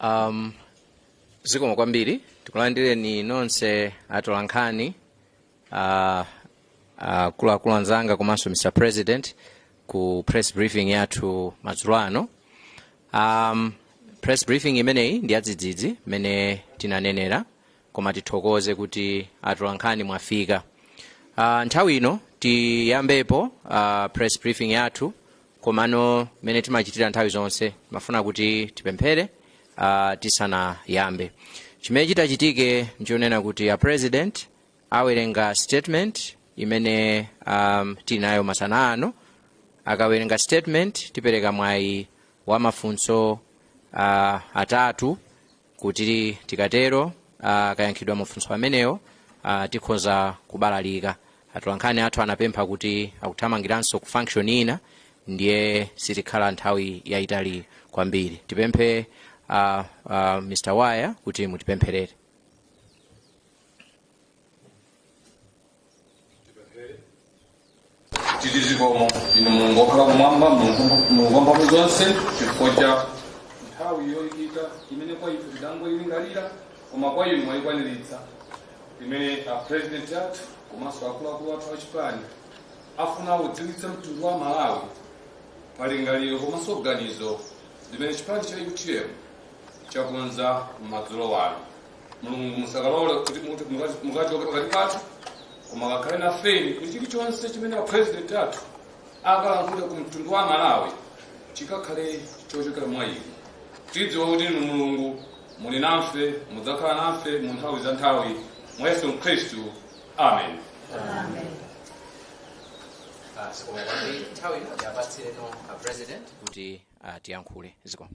um, zikomo kwambiri tikulandireni nonse atolankhani uh, akuluakulu anzanga komanso mr president ku press briefing yathu madzulo ano um, press briefing imeneyi ndi yadzidzidzi mmene tinanenera koma tithokoze kuti atolankhani mwafika uh, nthawi ino tiyambepo uh, press briefing yathu komano mmene timachitira nthawi zonse timafuna kuti tipemphere uh, tisanayambe chimene chitachitike nchonena kuti a president awerenga statement imene um, tili nayo masana ano akawerenga statement tipereka mwayi wa mafunso uh, atatu kuti tikatero akayankhidwa mafunso amenewo ah, tikhoza kubalalika atolankhani athu anapempha kuti akuthamangiranso ku function ina ndiye sitikhala nthawi yayitali kwambiri tipemphe ah, ah, mr waya kuti mutipempherere tiri zikomo inu mulungu okhala kumwamba mulungu wamphamvu zonse chifukwa cha nthawi yoyikika imene kwa ife tidangoyilingalira koma kwa inu mwayikwaniritsa imene a president athu komanso akuluakulu athu achipani afuna kudziwitsa mtundu wa malawi palingaliro komanso ganizo limene chipani cha utm chakonza madzulo ano mulungu musakalole kuti muti mukati- mukachoke pakati pathu koma kakhale nafeni kuti chilichonse chimene a president athu akalankhule ku mtundu wa malawi chikakhale chochokera mwa inu tidziwa kuti inu mulungu muli nafe mudzakhala nafe mu nthawi za nthawi mwa yesu khristu amen Ah, zikomo kwambiri nthawi ino tiapatsireno a president kuti ah, atiyankhule zikomo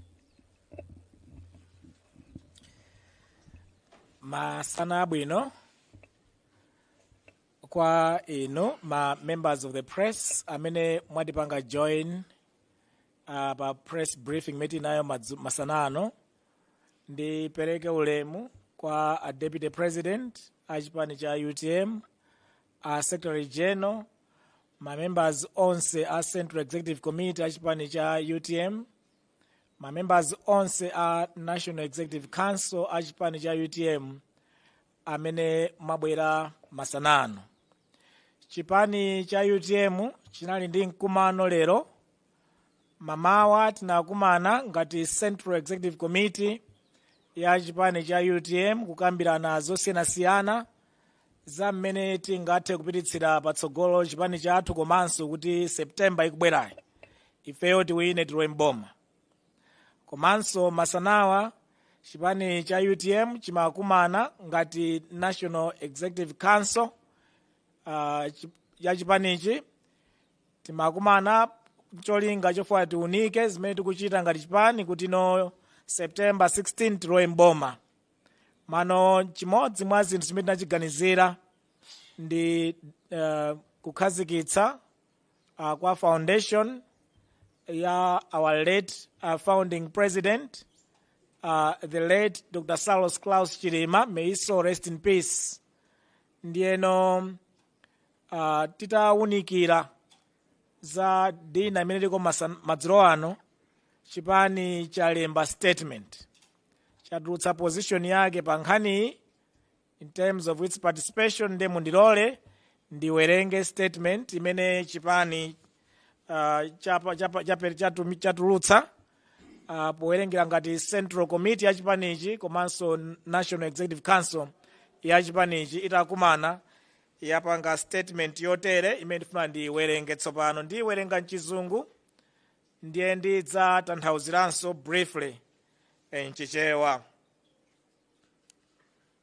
masana abwino kwa inu ma members of the press amene mwatipanga join uh, pa press briefing imene tili nayo madzu- masana ano ndipereke ulemu kwa a deputy president a chipani cha utm a secretary general ma members onse a central executive committee a chipani cha utm mamembers onse a national executive council a chipani cha utm amene mwabwera masana ano chipani cha utm chinali ndi mkumano lero mamawa tinakumana ngati central executive committee ya chipani cha utm kukambirana zosiyanasiyana za mmene tingathe kupititsira patsogolo chipani chathu komanso kuti septemba ikubwerayi ifeyo tiwine tilowe mboma komanso masanawa chipani cha utm chimakumana ngati national executive council uh, chi- ya chipanichi timakumana cholinga chofuna tiunike zimene tikuchita ngati chipani kuti pa september 16 tilowe mboma mano chimodzi mwa zinthu zimene tinachiganizira ndi uh, kukhazikitsa uh, kwa foundation ya our late uh, founding president uh, the late dr saulos klaus chilima may his soul rest in peace ndiyeno uh, titawunikira za dinner imene liko masa- madzulo ano chipani chalemba statement chatulutsa position yake pa nkhaniyi in terms of its participation nde mundilole ndiwerenge statement imene chipani uh, chapa- chapa- chape- chatumi- chatulutsa uh, powerengera ngati central committee ya chipanichi komanso national executive council ya chipanichi itakumana yapanga statement yotere imene ndifuna ndiyiwerenge tsopano ndiyiwerenga mchizungu ndiye ndidzatanthauziranso briefly mchichewa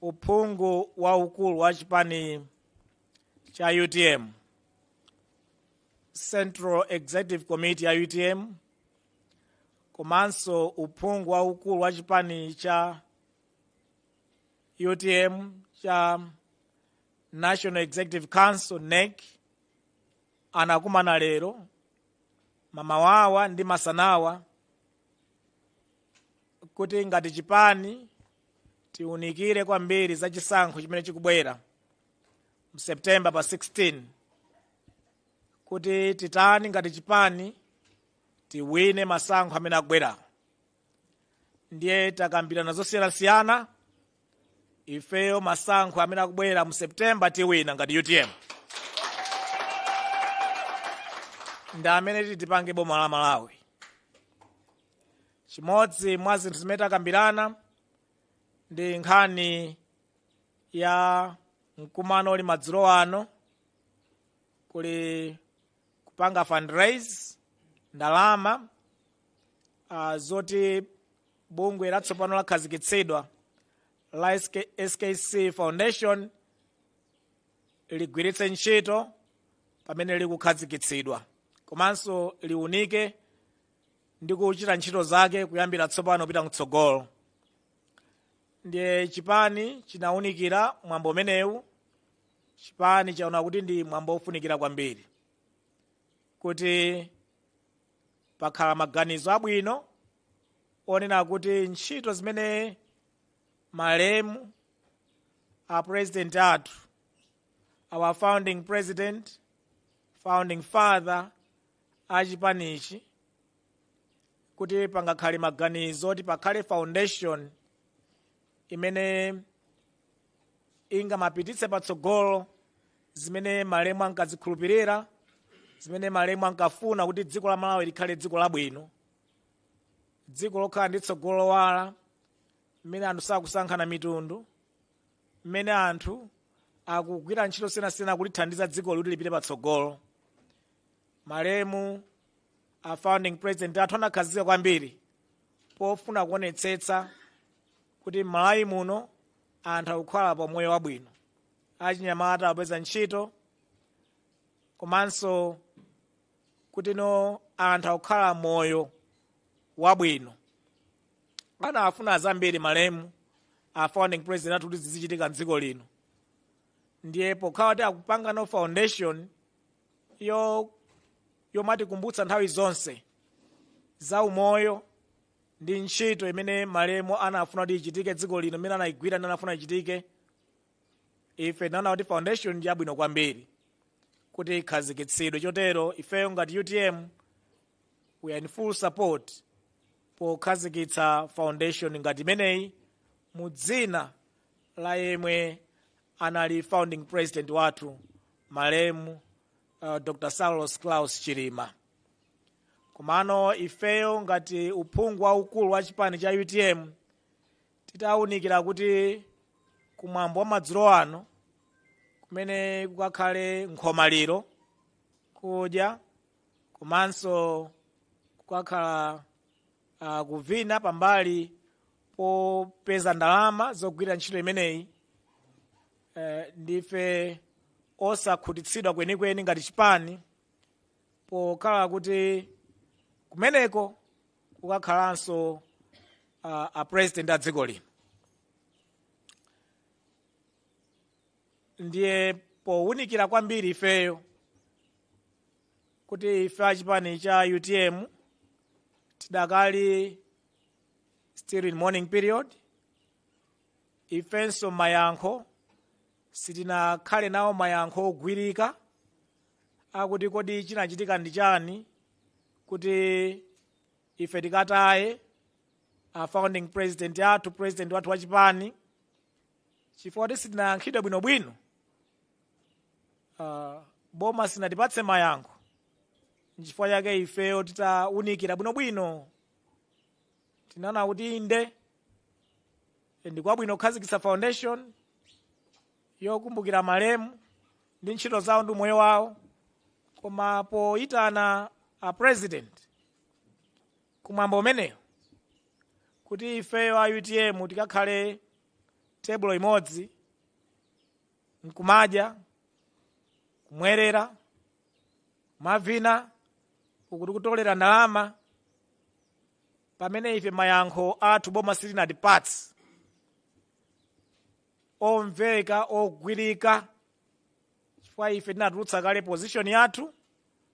uphungu waukulu wa chipani cha utm central executive committee ya utm komanso uphungu waukulu wa chipani cha utm cha national executive council nec anakumana lero mamawawa ndi masanawa kuti ngati chipani tiunikire kwambiri za chisankho chimene chikubwera mseptemba pa 16 kuti titani ngati chipani tiwine masankho amene akubwera ndiye takambirana zosiyanasiyana ifeyo masankho amene akubwera mu septemba tiwina ngati utm ndi amene titipange boma la malawi chimodzi mwa zinthu zimene takambirana ndi nkhani ya mkumano uli madzulo ano kuli kupanga fundraise ndalama uh, zoti bungwe latsopano lakhazikitsidwa la SK, skc foundation ligwiritse ntchito pamene likukhazikitsidwa komanso liunike ndi kuchita ntchito zake kuyambira tsopano kupita mtsogolo ndiye chipani chinawunikira mwambo umenewu chipani chaona kuti ndi mwambo wofunikira kwambiri kuti pakhala maganizo abwino onena kuti ntchito zimene malemu a president athu our founding president founding father a chipanichi kuti pangakhale maganizo oti pakhale foundation imene ingamapititse patsogolo zimene malemu ankazikhulupirira zimene malemu ankafuna kuti dziko la malawi likhale dziko labwino dziko lokhala ndi tsogolo lowala mmene anthu sakusankhana mitundu mmene anthu akugwira ntchito siyanasiyana kulithandiza dziko kuti lipite patsogolo malemu a founding president athu anakhazikika kwambiri pofuna kuonetsetsa kuti m'malawi muno anthu akukhala pa moyo wabwino achinyamata akupeza ntchito komanso kuti no anthu akukhala moyo wabwino anafuna zambiri malemu a founding president athu kuti zizichitika mdziko lino ndiye pokhala kuti akupangano foundation yomatikumbutsa nthawi zonse za umoyo ndi ntchito imene malemu anafuna kuti ichitike dziko lino imene anayigwira ndi anafuna ichitike ife tinaona kuti foundation ndi yabwino kwambiri kuti ikhazikitsidwe chotero ifeyo ngati utm we are in full support pokhazikitsa foundation ngati imeneyi mu dzina la yemwe anali founding president wathu malemu uh, dr saulos klaus chilima komano ifeyo ngati uphungu waukulu wa chipani cha utm titawunikira kuti kumwambo wa madzulo ano kumene kukakhale nkhomaliro kudya komanso kukakhala uh, kuvina pambali popeza ndalama zogwirira ntchito imeneyi eh, ndife osakhutitsidwa kwenikweni ngati chipani pokhala kuti kumeneko kukakhalanso uh, a president a dziko lino ndiye powunikira kwambiri ifeyo kuti ife achipani cha utm tidakali still in mourning period ifenso mayankho sitinakhale nawo mayankho ogwirika akuti kodi chinachitika ndi chani kuti ife tikataye a founding president athu president wathu wachipani chifukwa kuti sitinayankhidwe bwinobwino uh, boma sinatipatse mayankho nchifukwa chake ifeyo titawunikira bwinobwino tinaona kuti inde ndi kwabwino kukhazikitsa foundation yokumbukira malemu ndi ntchito zawo ndi umoyo wawo koma poyitana a president kumwambo umeneyo kuti ifeyo a utm tikakhale tebulo imodzi nkumadya kumwerera kumavina ukuti kutolera ndalama pamene ife mayankho athu boma silinatipatse omveka ogwirika chifukwa ife tinatulutsa kale position yathu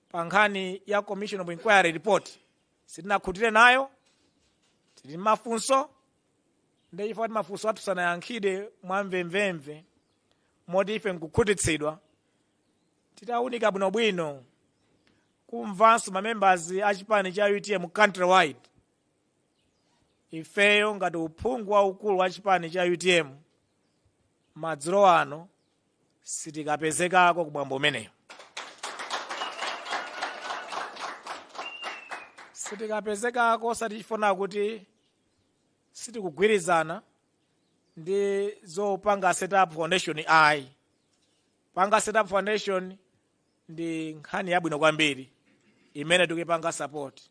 pa nkhani ya commission of inquiry report sitinakhutire nayo tili ndi mafunso ndiye chifukwa kuti mafunso athu sanayankhidwe mwamvemvemve moti ife nkukhutitsidwa titaunika bwinobwino kumvanso mamembers a chipani cha utm countrywide ifeyo ngati uphungu waukulu wa chipani cha utm madzulo ano sitikapezekako kumwambo umeneyo sitikapezekako osati chifukwa kuti sitikugwirizana ndi zopanga set up foundation ayi panga set up foundation ndi nkhani yabwino kwambiri imene tikuyipanga support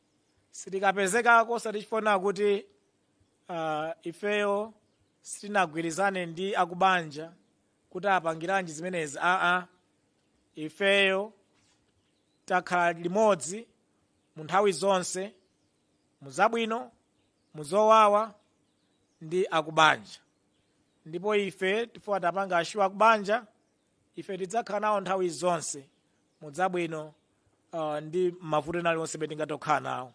sitikapezekako osati chifukwa kuti uh, ifeyo sitinagwirizane ndi akubanja kuti apangiranji zimenezi aa ifeyo takhala limodzi mu nthawi zonse mu zabwino mu zowawa ndi akubanja ndipo ife tifuna tiwapange assure akubanja ife tidzakhala nawo nthawi zonse mu zabwino uh, ndi mavuto ena aliwonse amene tingathe kukhala nawo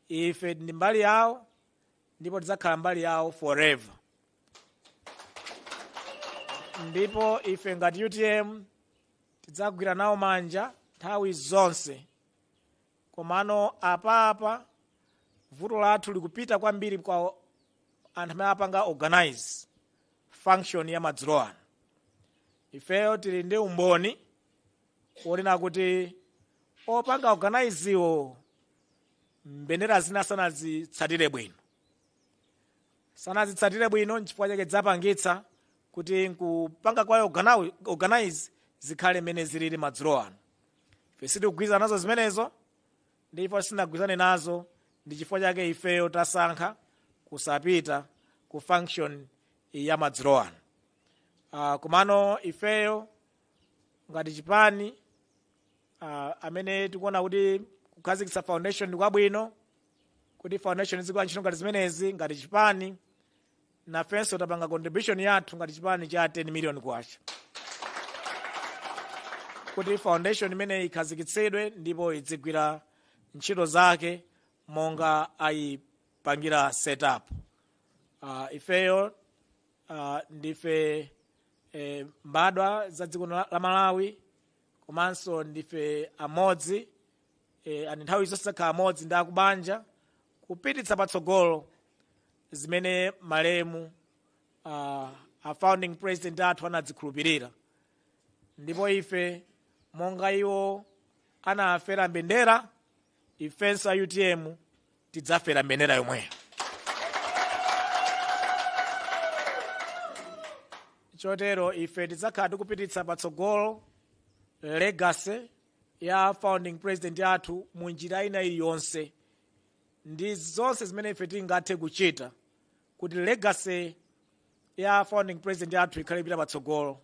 ife ndi mbali yawo ndipo tidzakhala mbali yawo forever ndipo ife ngati utm tidzagwira nawo manja nthawi zonse komano apapa vuto lathu likupita kwambiri kwa anthu amene apanga organize function ya madzulo ano ifeyo tili ndi umboni wonena kuti opanga organize wo mbendera zina sanazitsatire bwino sanazitsatire bwino nchifukwa chake zapangitsa kuti nkupanga kwawo organi- organize zikhale mmene zilili madzulo ano ife sitikugwirizana nazo zimenezo ndipo sitinagwirizane nazo ndi chifukwa chake ifeyo tasankha kusapita ku function ya madzulo ano uh, komano ifeyo ngati chipani uh, amene tikuona kuti kukhazikitsa foundation ndi kwabwino kuti foundation izigwira ntchito ngati zimenezi ngati chipani nafenso tapanga contribution yathu ngati chipani cha 10 million kwacha kuti foundation imeneyi ikhazikitsidwe ndipo idzigwira ntchito zake monga aipangira setup uh, ifeyo uh, ndife eh, mbadwa za dziko la la malawi komanso ndife amodzi e, and nthawi zonse tizakhala limodzi ndi akubanja kupititsa patsogolo zimene malemu uh, a founding president athu anadzikhulupirira ndipo ife monga iwo anafera mbendera ifenso a utm tidzafera mbendera yomweyo chotero ife tidzakhala tikupititsa patsogolo legacy ya founding president athu mu njira ina iliyonse ndi zonse zimene ife tingathe kuchita kuti legacy ya founding president athu ikhale ikupita patsogolo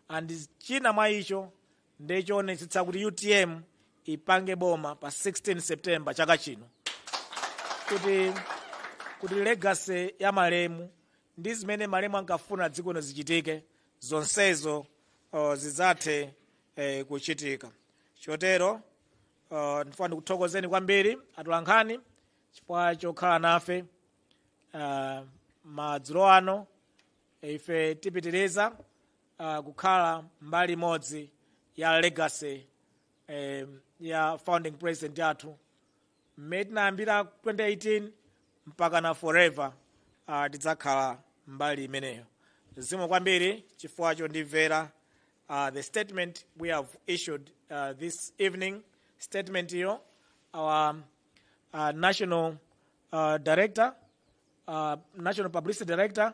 and china mwa icho ndi choonetsetsa kuti utm ipange boma pa 16 september chaka chino kuti kuti legacy ya malemu ndi zimene malemu ankafuna dziko lino zichitike zonsezo uh, zidzathe eh, kuchitika chotero uh, ndifuna ndikuthokozeni kwambiri atolankhani chifukwa chokhala nafe uh, madzulo ano ife tipitiriza uh, kukhala mbali imodzi ya legacy eh, ya founding president yathu mmene tinayambira 2018 mpaka na forever uh, tidzakhala mbali imeneyo zikomo kwambiri chifukwa chondimvera uh, the statement we have issued uh, this evening statement iyo our uh, national uh, director uh, national publicity director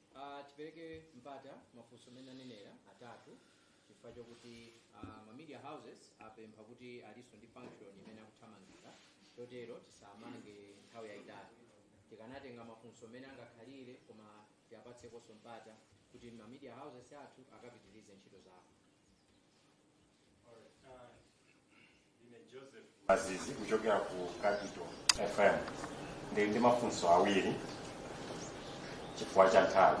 Uh, tipereke mpata mafunso amene anenera atatu chifukwa chokuti uh, ma media houses apempha kuti alinso ndi function imene akuthamangira chotero tisamange nthawi yayitali tikamatenga mafunso amene angakhalire koma tiapatsekonso mpata kuti ma media houses athu akapitirize ntchito zawo mazizi kuchokera ku capital fm ndili ndi mafunso awiri chifukwa cha nthawi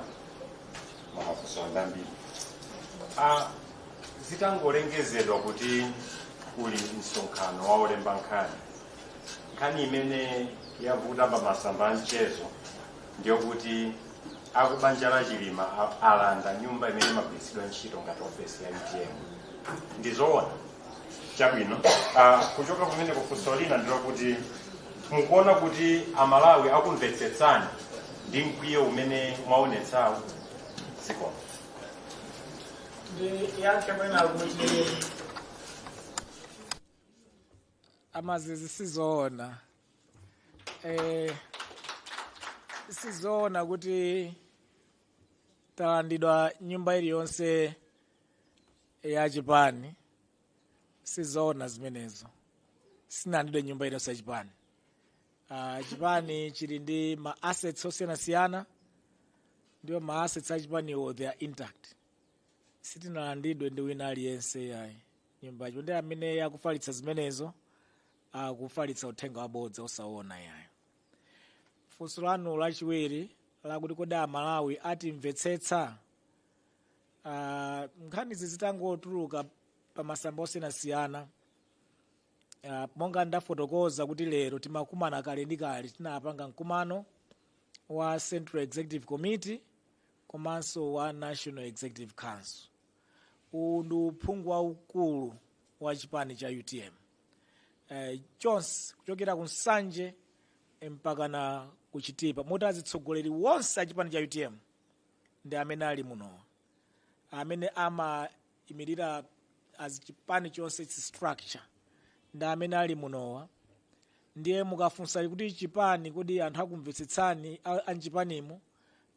ma mafunso ndi ambiri ah, zitangolengezedwa kuti kuli msonkhano wa olemba nkhani nkhani imene yavuta pa masamba a mchezo ndiyokuti akubanja la chilima a- alanda nyumba imene imagwiritsidwa ntchito ngati ofesi ya utm ndizoona chabwino Ah, kuchoka pamenepo funso lina ndilokuti mukuona kuti amalawi akumvetsetsani ndi mkwiyo umene mwaonetsawo zikomo ndiyankhe mwina kuti amazizi sizoona eh, sizoona kuti talandidwa nyumba iliyonse ya chipani sizoona zimenezo sinalandidwe nyumba iliyonse ya chipani uh, chipani chili ndi ma assets osiyanasiyana ndipo ma assets a chipaniwo they are intact sitinalandidwe ndi wina aliyense yayi nyumba ya chipani ndipo amene akufalitsa zimenezo akufalitsa uthenga wabodza osaona ayi funso lanu lachiwiri lakuti kodi amalawi atimvetsetsa Ah, nkhanizi zitangotuluka pa masamba osiyanasiyana Ah, monga ndafotokoza kuti lero timakumana kale ndi kale tinapanga mkumano wa central executive committee komanso wa national executive council uwu ndi uphungu waukulu wa chipani cha utm eh, chonse kuchokera ku nsanje eh, mpaka na ku chitipa moti azitsogoleri wonse a chipani cha utm ndi amene ali muno amene amaimirira as chipani chonse its structure ndi amene ali munowa ndiye mukafunsa kuti chipani kodi anthu akumvetsetsani a- am'chipanimu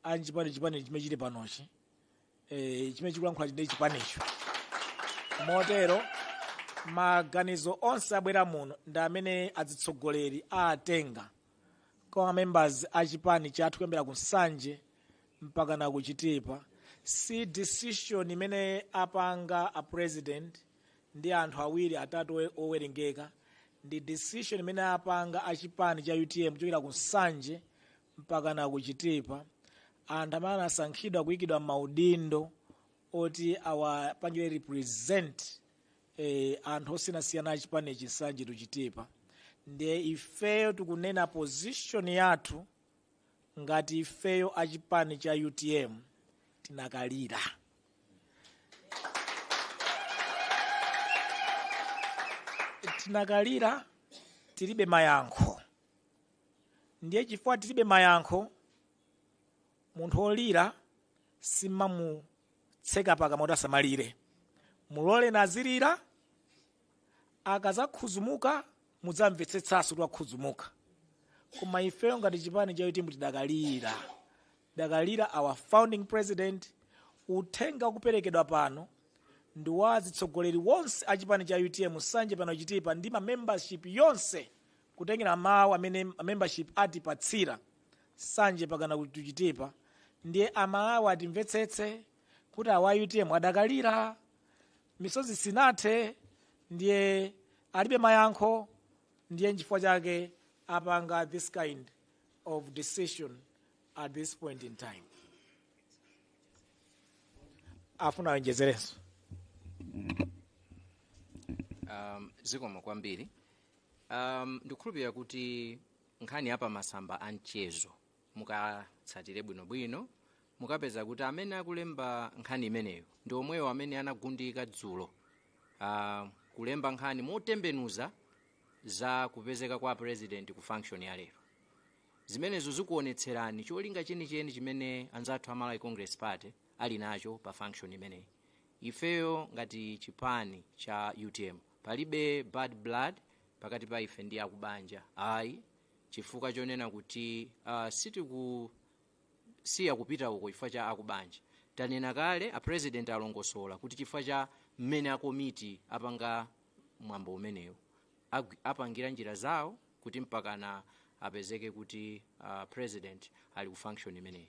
anchipani chipani chimene chili panochi e, chimene chikulankhula ndi chipanicho motero maganizo onse abwera muno ndi amene azitsogoleri atenga kwa ma members a chipani chathu kuyambira ku nsanje mpaka na ku chitipa si decision imene apanga a president ndi anthu awiri atatu owe- owerengeka ndi decision imene apanga a chipani cha utm kuchokera ku nsanje mpakana ku chitipa anthu amene anasankhidwa kuyikidwa maudindo oti awapangire represent eh, anthu osiyanasiyana achipani chi nsanje to chitipa ndiye ifeyo tikunena position yathu ngati ifeyo achipani cha utm tidakalira tidakalira tilibe mayankho ndiye chifukwa tilibe mayankho munthu olira simamutseka pakamwa kuti asamalire muloleni azilira akazakhuzumuka mudzamvetsetsanso kuti wakhuzumuka koma ifeyo ngati chipani cha utm tidakalira tidakalira our founding president uthenga ukuperekedwa pano ndi wa azitsogoleri wonse a chipani cha utm nsanje mpakana chitipa ndi ma membership yonse kutengera mawu amene membership atipatsira nsanje mpakana ku chitipa ndiye amalawi atimvetsetse kuti a utm adakalira misozi sinathe ndiye alibe mayankho ndiye nchifukwa chake apanga this kind of decision at this point in time afuna aonjezerenso um, zikomo kwambiri Um, ndikukhulupirira kuti nkhani ya pamasamba a mchezo mukatsatire bwinobwino mukapeza kuti amene akulemba nkhani imeneyo ndi omwewo amene anagundika dzulo uh, kulemba nkhani motembenuza za kupezeka kwa a president ku function ya lero zimenezo zikuonetserani cholinga chenicheni chimene anzathu a malawi congress party ali nacho pa function imeneyi ifeyo ngati chipani cha utm palibe bad blood pakati pa ife ndi akubanja ayi chifukwa chonena kuti uh, sitikusiya kupita uko chifukwa cha akubanja tanena kale a president alongosola kuti chifukwa cha mmene akomiti apanga mwambo umenewu Agwi- apangira njira zawo kuti mpakana apezeke kuti uh, president ali ku function imeneyi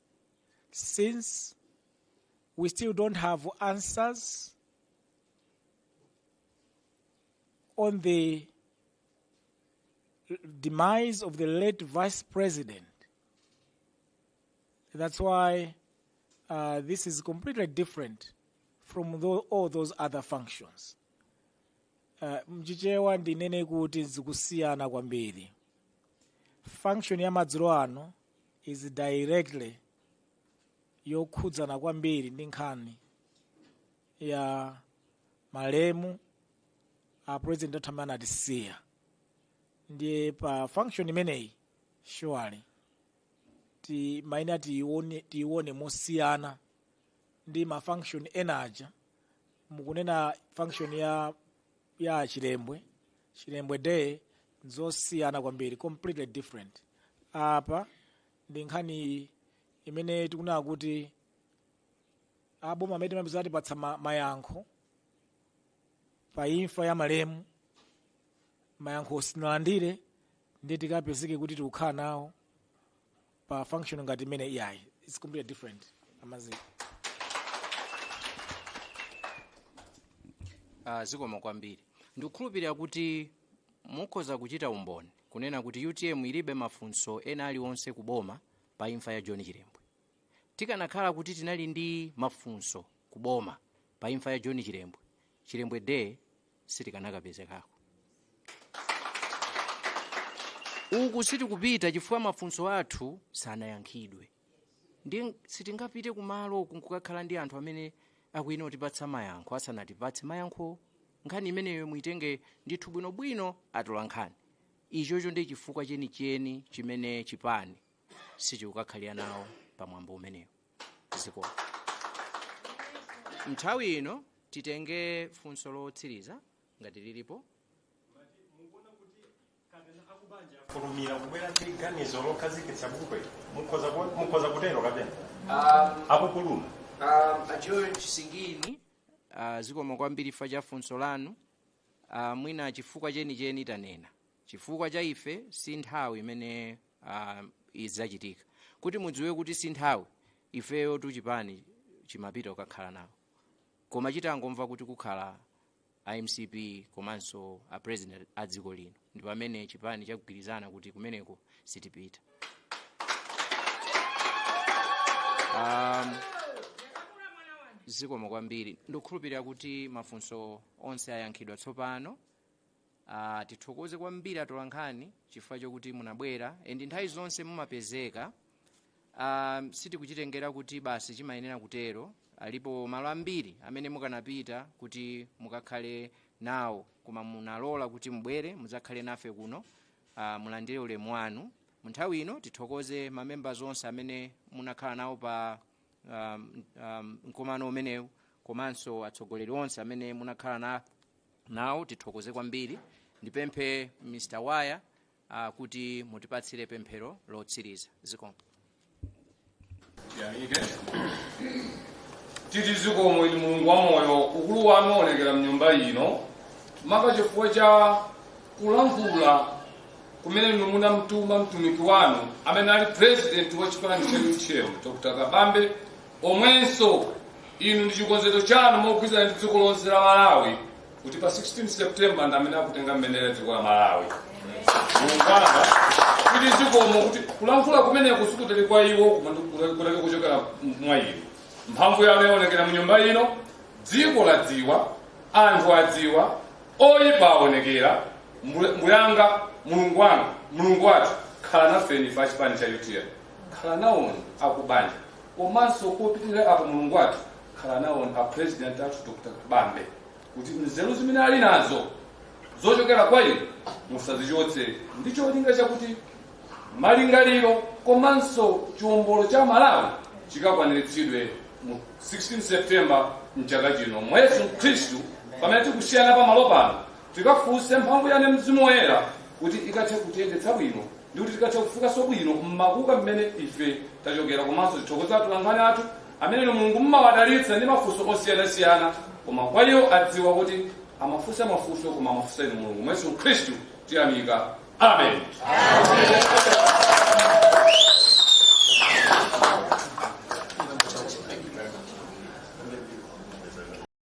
since we still don't have answers on the demise of the late vice president. That's why uh, this is completely different from tho- all those other functions. Uh, mchichewa ndinene kuti zikusiyana kwambiri function ya madzulo ano is directly yokhudzana kwambiri ndi nkhani ya malemu a president athu amene anatisiya ndiye pa function imeneyi surely timayenera tiione tiione mosiyana ndi ma function ena aja mukunenawo function ya ya chilembwe chilembwe day nzosiyana kwambiri completely different apa ndi nkhani imene tikunena kuti aboma amene timapeza atipatsa ma- mayankho pa imfa ya malemu mayankho sitinalandire ndiye tikapezeke kuti tikukhala nawo pa function ngati imene iyayi it's completely different amazi uh, zikomo kwambiri ndikukhulupirira kuti mukhoza kuchita umboni kunena kuti utm ilibe mafunso ena aliwonse ku boma pa imfa ya john chilembwe tikanakhala kuti tinali ndi mafunso ku boma pa imfa ya john chilembwe chilembwe day sitikanakapezekako uku sitikupita chifukwa mafunso athu sanayankhidwe ndi sitingapite kumalo nkukakhala ndi anthu amene akuyenera kutipatsa mayankho asanatipatse mayankho nkhani imeneyo muitenge ndithu bwinobwino atolankhani ichocho ndi chifukwa chenicheni chimene chipani sichikukakhalira nawo pamwambo umenewo ziko nthawi ino titenge funso lotsiriza ngati lilipo kufulumira kubwera ndi ganizo lokhazikitsa bungwe mukhoza ku- mukhoza kutero kapena akupuluma george singini uh, zikomo kwambiri chifukwa cha funso lanu uh, mwina chifukwa chenicheni tanena chifukwa chaife si nthawi imene uh, izichitika kuti mudziwe kuti si nthawi ifeyo tu chipani chimapita kukakhala nawo koma chitangomva kuti kukakhala a mcp komanso a president a dziko lino ndi pamene chipani chagwirizana kuti kumeneko sitipita um, zikomo kwambiri ndikukhulupirira kuti mafunso onse ayankhidwa tsopano Ah, tithokoze kwambiri atolankhani chifukwa chokuti munabwera and nthawi zonse mumapezeka ah, sitikuchitengera kuti basi chimayenera kutero alipo malo ambiri amene mukanapita kuti mukakhale nawo koma munalola kuti mubwere mudzakhale nafe kuno ah, mulandire ulemu wanu munthawi ino tithokoze mamembers onse amene munakhala nawo pa um, um, mkumano umenewu komanso atsogoleri onse amene munakhala na nawo tithokoze kwambiri ndipemphe mr waya uh, kuti mutipatsire pemphero lotsiriza zikomo titi zikomo inu mulungu wa moyo ukulu wanu waonekera mnyumba ino maka chifukwa cha kulankhula kumene inu munamtuma mtumiki wanu amene ali president wa chipani chathu dr kabambe omwenso inu ndi chikonzero chanu mogwirizana ndi dziko lonse la malawi kuti pa 16 september ndamene akutenga mbendera dziko la malawi muungwana kuti zikomo kuti kulankhula kumeneku sikutali kwa iwo koma ndi- kutali kutali kuchokera mwa inu mphamvu yanu yaonekera mu nyumba ino dziko ladziwa anthu adziwa oyipa aonekera Mbule- mbuyanga mulungu wanga mulungu wathu khala nafeni pa chipani cha utm khala naoni akubanja Komanso kopitilira apo Mulungu wathu khala nawo a president athu Dr. Kabambe kuti nzeru zimene ali nazo zochokera kwa inu musazichotse ndi cholinga chakuti malingaliro komanso chiwombolo cha Malawi chikakwaniritsidwe mu 16 September mchaka chino mwa Yesu Khristu pamene tikusiyana pa malo pano tikufunsa mphamvu yanu mzimu woyera kuti ikathe kutiyendetsa bwino ndikuti tikathe kufikanso bwino mmakuka mmene ife tachokera komanso tithokoza atolankhani athu amene mulungu mmawadalitsa ndi mafunso osiyanasiyana koma kwa iwo adziwa kuti amafunsa mafunso koma amafunsa inu mulungu mwa yesu khristu tiyamika amen, amen.